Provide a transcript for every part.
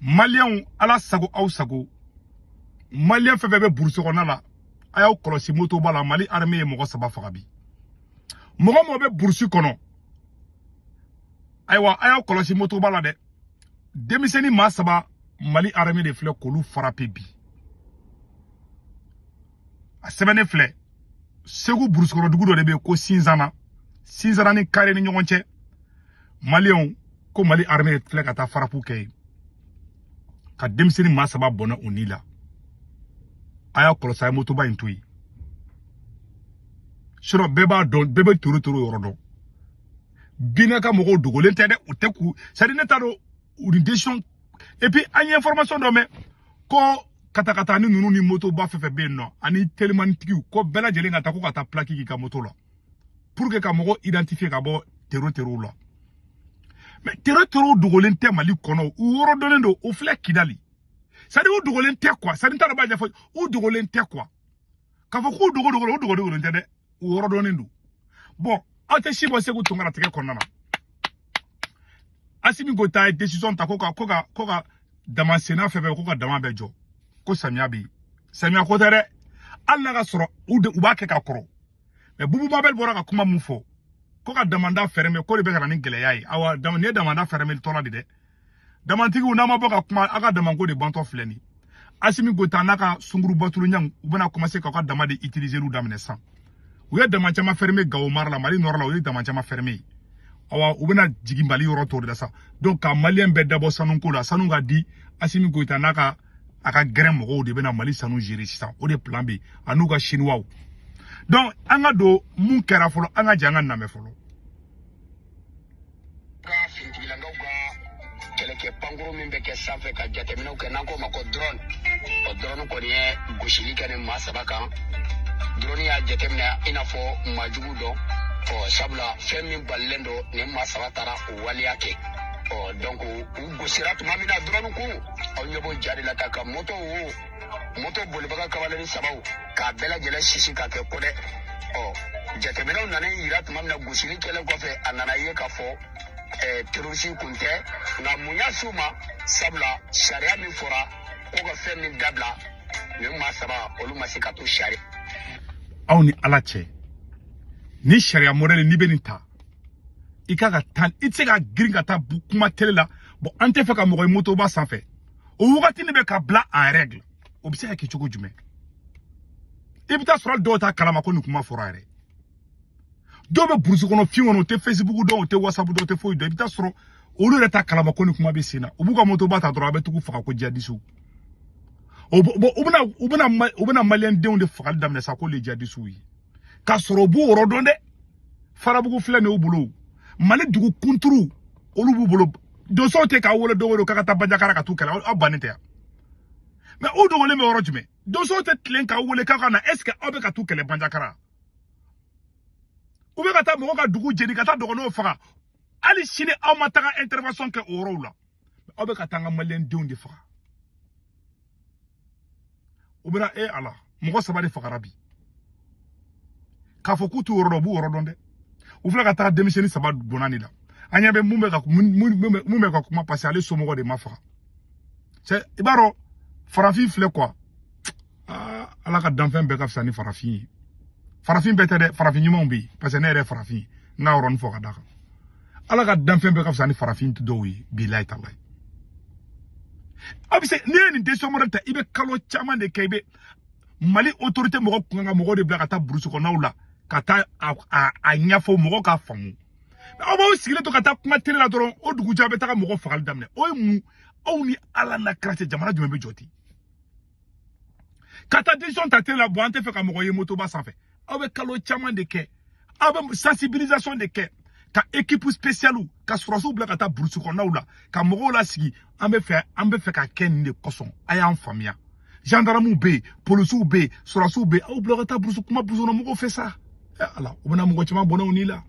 maliyɛnw ala sago aw sago maliyɛn fɛn fɛn bɛ burusi kɔnɔna la a y'aw kɔlɔsi motoba la mali armée ye mɔgɔ saba faga bi mɔgɔ mɔgɔ bɛ burusi kɔnɔ ayiwa a y'aw kɔlɔsi motoba la dɛ denmisɛnnin maa saba mali armée de filɛ k'olu farape bi a sɛbɛnnen filɛ segu burusi kɔnɔ dugu dɔ de bɛ yen ko sinzana sinzana ni kare ni ɲɔgɔn cɛ maliyɛnw ko mali armée filɛ ka taa farapu kɛ yen ka denmisɛnnin maa saba bɔnɛ u ni la a y'a kɔlɔsi a ye motoba in to yen sinɔn bɛɛ b'a dɔn bɛɛ bɛ tero tero yɔrɔ dɔn bina ka mɔgɔw dogolen tɛ dɛ u tɛ k'u sadi ne t'a dɔn u ni desisɔn epi an ye information dɔ mɛn ko katakatanin ninnu ni motoba fɛn fɛn bɛ yen nɔ ani telimanitigiw ko bɛɛ lajɛlen ka taa ko ka taa pilaki k'i ka moto la pour que ka mɔgɔ identifier ka bɔ tero terow la mais tero terow dogolen tɛ mali kɔnɔ u yɔrɔ dɔnnen don u filɛ kidali sadi u dogolen tɛ quoi sadi n t'a dɔn b'a ɲɛfɔ u dogolen tɛ quoi k'a fɔ k'u dogolen don u dogolen tɛ dɛ u yɔrɔ dɔnnen don bɔn aw tɛ si bɔ seku tunkara tɛgɛ kɔnɔna na asimi goyita ye desisɔn ta ko ka ko ka ko ka dama senna fɛn fɛn ko ka dama bɛɛ jɔ ko samiya bɛ yen samiya ko tɛ dɛ hali n'a ka sɔrɔ u de u b'a kɛ ka kɔrɔ mɛ bubu mabɛli bɔra ka kuma min fɔ ko ka damanda ferme ko de bɛ ka na ni gɛlɛya ye awa nin ye damanda fermetɔ la de dɛ damantigiw n'a ma bɔ ka kuma a ka damanko de bantɔ filɛ nin asimi goyita n'a ka sunguru bɔtuluɲɛw u bɛna commencer k'aw ka dama de utiliseli daminɛ sisan u ye dama caman ferme gawo mara la mali nɔrɔ la u ye dama caman ferme yen awa u bɛna jigin mali yɔrɔ tɔw de la sa donc ka maliyɛn bɛɛ dabɔ sanu ko la sanu ka di asimi goyita n'a ka a ka gɛrɛn mɔgɔw de bɛna mali sanu gere sisan o de plan bɛ a n'u ka siniwaw donc an k'a dɔn mun kɛra fɔlɔ an ka jɛ an k'a namɛn fɔlɔ finitigilakaw ka kɛlɛkɛ pankuru min bɛ kɛ sanfɛ ka jateminɛw kɛ n'an k'o ma ko drone o drone kɔni ye gosili kɛ nin maa saba kan drone y'a jateminɛ i n'a fɔ maa jugu don ɔ sabula fɛn min balilen don nin maa saba taara o waleya kɛ ɔ dɔnku u gosira tuma min na drone kun aw ɲɛ b'o ja de la ka ka moto wo moto bolibaga kamalennin sabaw k'a bɛɛ lajɛlen sisi ka kɛ ko dɛ ɔ jateminɛw nana yira tuma min na gosili kɛlen kɔfɛ a nana ye k'a fɔ eh, terorisi kun tɛ nka mun y'a s'u ma sabula sariya min fɔra ko ka fɛn min dabila nin maa saba olu ma se ka to sariya aw ni ala cɛ nin sariya mɔdɛli n'i bɛ nin ta i kan ka taa i tɛ se ka girin ka taa kuma tele la bɔn an tɛ fɛ ka mɔgɔ ye motoba sanfɛ o wagati ne bɛ ka bila en règle o bɛ se ka kɛ cogo jumɛn i bɛ taa sɔrɔ dɔw t'a kalama ko nin kuma fɔra yɛrɛ dɔw bɛ burusi kɔnɔ fiɲɛ kɔnɔ u tɛ fesibuku dɔn u tɛ wasapu dɔn u tɛ foyi dɔn i bɛ taa sɔrɔ olu yɛrɛ t'a kalama ko nin kuma bɛ sen na u b'u ka motoba ta dɔrɔn a b'a tigi faga ko jadisiw o bɛna u bɛna u bɛna maliyɛndenw de fagali daminɛ sa ko le jadisiw ye k'a sɔrɔ u b'o yɔrɔ dɔn dɛ farabugu filɛ nin y'u bolo mali dugu kunturu olu b'u bolo donsow tɛ k'a wele don o don k'a ka taa banjagara ka t'u kɛlɛ aw bannen tɛ yan mais u dogolen bɛ yɔrɔ jumɛn donsow tɛ tilen k'aw wele k'aw ka na est ce que aw bɛ ka t'u kɛlɛ banjagara u bɛ ka taa mɔgɔ ka dugu jeni ka taa dɔgɔnɔw faga hali sini aw ma taga intervention kɛ o yɔrɔw la aw bɛ ka taa an ka maliyɛn denw de faga u bɛna e ala mɔgɔ saba de fagara bi k'a fɔ k'u t'u yɔrɔ dɔn u b'u yɔrɔ dɔn dɛ u filɛ ka taa denmisɛnnin saba bɔnɛ ni la an ɲɛ bɛ mun bɛ ka mun bɛ ka kuma parce que ale somɔgɔ de ma faga cɛ i b'a dɔn farafin filɛ quoi aa ala ka danfɛn bɛɛ ka fisa ni farafin ye farafin bɛɛ tɛ dɛ farafin ɲumanw bɛ yen parce que ne yɛrɛ ye farafin ye n ka yɔrɔnin fɔ ka d'a kan ala ka danfɛn bɛɛ ka fisa ni farafin dɔw ye bilayi talayi a bɛ se n'i ye nin decision modèle ta i bɛ kalo caman de kɛ i bɛ mali otorite mɔgɔ kun ka mɔgɔ de bila ka taa burusi kɔnɔnaw la ka taa a ɲɛfɔ mɔgɔw k'a faamu aw b'aw sigilen to ka taa kuma tele la dɔrɔn o dugujɛ a bɛ taga mɔgɔ fagali daminɛ o ye mun aw ni ala n'a kira cɛ jamana jumɛn bɛ jɔ ten ka taa decision ta tele la bon an tɛ fɛ ka mɔgɔ ye motoba sanfɛ aw bɛ kalo caman de kɛ aw bɛ sensibilisation de kɛ ka ekipu spesiyaliw ka sɔrɔsiw bila ka taa burusi kɔnɔnaw la ka mɔgɔw lasigi an bɛ fɛ an bɛ fɛ ka kɛ nin de kosɔn a y'an faamuya gendarmew bɛ yen polisiw bɛ yen sɔrɔsiw bɛ yen aw bila ka taa burusi kuma burusikɔnɔmɔgɔw fɛ sa ɛ ala u bɛna mɔgɔ caman bɔnɛ u ni la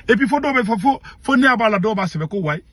et puis fo dɔw b'a fɔ fo fo ne ɲɛ b'a la dɔw b'a sɛbɛn ko wayi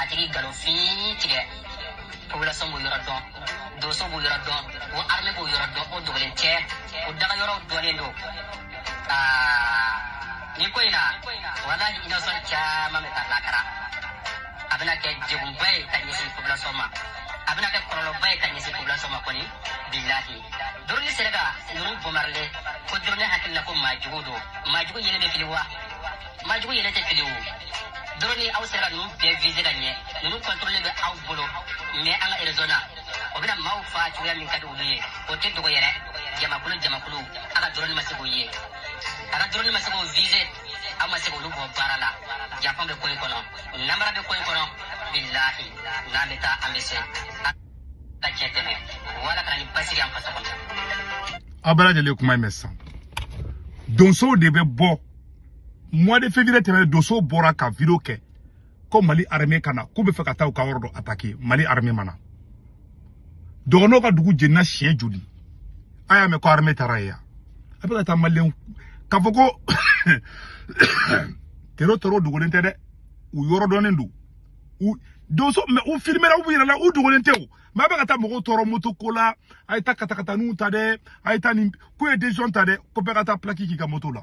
a tigi nkalon fin tigɛ population b'o yɔrɔ dɔn donso b'o yɔrɔ dɔn o arme b'o yɔrɔ dɔn o dogolen tɛ o daga yɔrɔw dɔnnen don ni ko in na walahi innocent caman bɛ taa lakara a bɛna kɛ degunba ye ka ɲɛsin population ma a bɛna kɛ kɔlɔlɔba ye ka ɲɛsin population ma kɔni bilahi doroni sera ka ninnu bombarder ko doroni hakili la ko maajugu don maajugu yɛrɛ bɛ fili wa maajugu yɛrɛ tɛ fili o doroni aw sera ka ninnu bɛɛ vize ka ɲɛ ninnu contrôle bɛ aw bolo mais an ka erezɔn na o bɛna maaw fa cogoya min ka di olu ye o tɛ dogo yɛrɛ jamakulu jamakulu a ka doroni ma se k'o ye a ka doroni ma se k'o vize aw ma se k'olu bombarder janfa bɛ ko in kɔnɔ namara bɛ ko in kɔnɔ bilahi n'an bɛ taa an bɛ se ka cɛ tɛmɛ wala ka na ni basigi an faso kɔnɔ aw bɛɛ lajɛlen kuma in mɛn sisan donsow de bɛ bɔ mois de février tɛmɛnen donsow bɔra ka video kɛ ko mali armée ka na k'u bɛ fɛ ka taa u ka yɔrɔ dɔ attaquer mali armée ma na dɔgɔnɔw ka dugu jenina siɲɛ joli a y'a mɛn ko armée taara yen a bɛ ka taa maliyɛnw k'a fɔ ko tero tero dogolen tɛ dɛ u yɔrɔ dɔnnen don u donso mais u filimera u yɛrɛ la u dogolen tɛ o mais a bɛ ka taa mɔgɔw tɔɔrɔ moto ko la a ye taa katakataninw ta dɛ a ye taa nin ko ye décision ta dɛ ko bɛɛ ka taa pilaki k'i ka moto la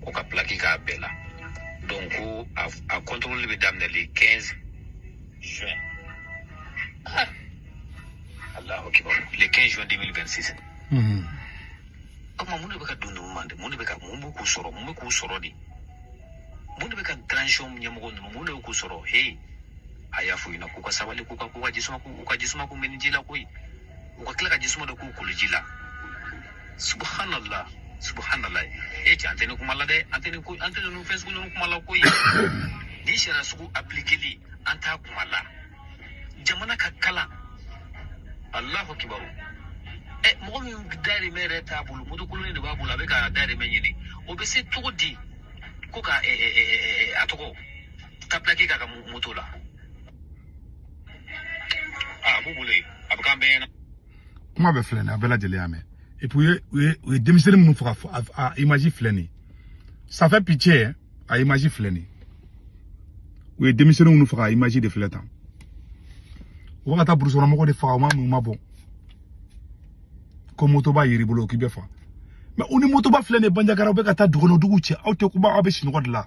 ko ka pilaki k'a bɛɛ la donc ko a kɔntɔrɔli bɛ daminɛ le 15 juin ah. alahu akibar le 15 juin 2026 o tuma mun de bɛ ka don ninnu ma de mun de bɛ ka mun bɛ k'u sɔrɔ mun bɛ k'u sɔrɔ de mun de bɛ ka transition ɲɛmɔgɔ ninnu mun de bɛ k'u sɔrɔ he a y'a fɔ u ɲɛna k'u ka sabali k'u ka k'u ka jisuma k'u ka jisuma k'u minniji la koyi u ka tila ka jisuma dɔ k'u koliji la subhanallah subhanallah e cɛ an tɛ nin kuma la dɛ an tɛ nin ko an tɛ ninnu fɛn sugu ninnu kuma la koyi nin sariya sugu aplikeli an t'a kuma la jamana ka kalan alahu akibaru ɛ mɔgɔ min dayirimɛ yɛrɛ t'a bolo motokolonnin de b'a bolo a bɛ ka dayirimɛ ɲini o bɛ se cogo di ko ka ɛ ɛ ɛ ɛ a tɔgɔ ka pilaki k'a ka mo- moto la a b'u bolo yen a bɛ k'an bɛɛ ɲɛna kuma bɛ filɛ nin ye a bɛɛ lajɛlen y'a mɛn et puis u ye u ye u ye denmisɛnnin minnu faga a image filɛ nin ye ça fait pitié a image filɛ nin ye u ye denmisɛnnin minnu faga a image de filɛ tan u bɛ ka taa burusi kɔnɔ mɔgɔw de faga u ma mun ma bɔ ko motoba yer'i bolo k'i bɛ faga mais u ni motoba filɛ nin ye banjagara u bɛ ka taa dugukɔnɔ dugu cɛ aw tɛ kuma aw bɛ sunɔgɔ de la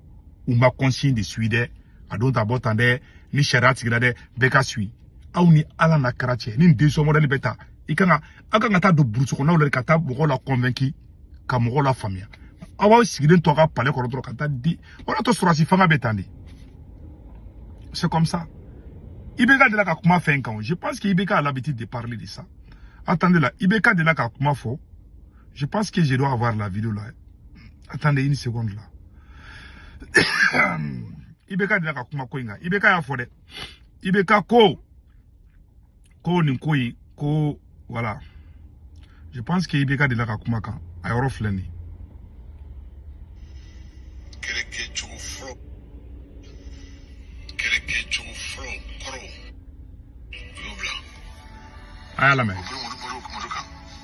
u ma consigne de suivre dɛ a don ta bɔ tan dɛ ni sariya sigira dɛ bɛɛ k'a suivre aw ni ala n'a kira cɛ nin décision modèle bɛ ta i kan ka aw kan ka taa don burusi kɔnɔnaw la ka taa mɔgɔw la kɔnvɛnki ka mɔgɔw la faamuya aw b'aw sigilen to a ka palais kɔrɔ dɔrɔn ka taa di o y'a to sɔrɔdasi fanga bɛ tan de c'est comme ça IBK de la ka kuma fɛn kan je pense que IBK a l'habitude de parler de ça attendez là IBK de la ka kuma fɔ Je pense que je dois avoir la vidéo là. Attendez une seconde là. IBK de la ka kuma ko in kan. IBK y'a fɔ dɛ. IBK ko. Ko nin ko ko voilà. Je pense que IBK de la ka kuma kan. A yɔrɔ filɛ nin. Kɛlɛkɛcogo fɔlɔ. Kɛlɛkɛcogo fɔlɔ kɔrɔ. U y'o bila. A y'a lamɛn.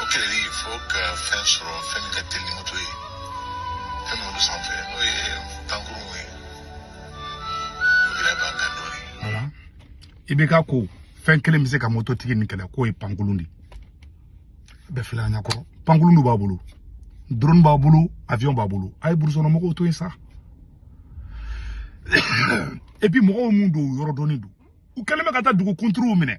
o kɛlɛli fo ka fɛn sɔrɔ fɛn min ka teli ni moto ye fɛn min bɛ sanfɛ n'o ye pankurun ye o gɛlɛya b'an kan dɔɔni voilà i bɛ ka ko fɛn kelen bɛ se ka moto tigi nin kɛlɛ k'o ye pankurun de bɛɛ filɛ an ɲɛkɔrɔ pankurun dɔ b'a bolo drone b'a bolo avion b'a bolo a ye burusi kɔnɔ mɔgɔw to yen sa et puis mɔgɔw mun don u yɔrɔ dɔnnen don u kɛlen bɛ ka taa dugu kunturuw minɛ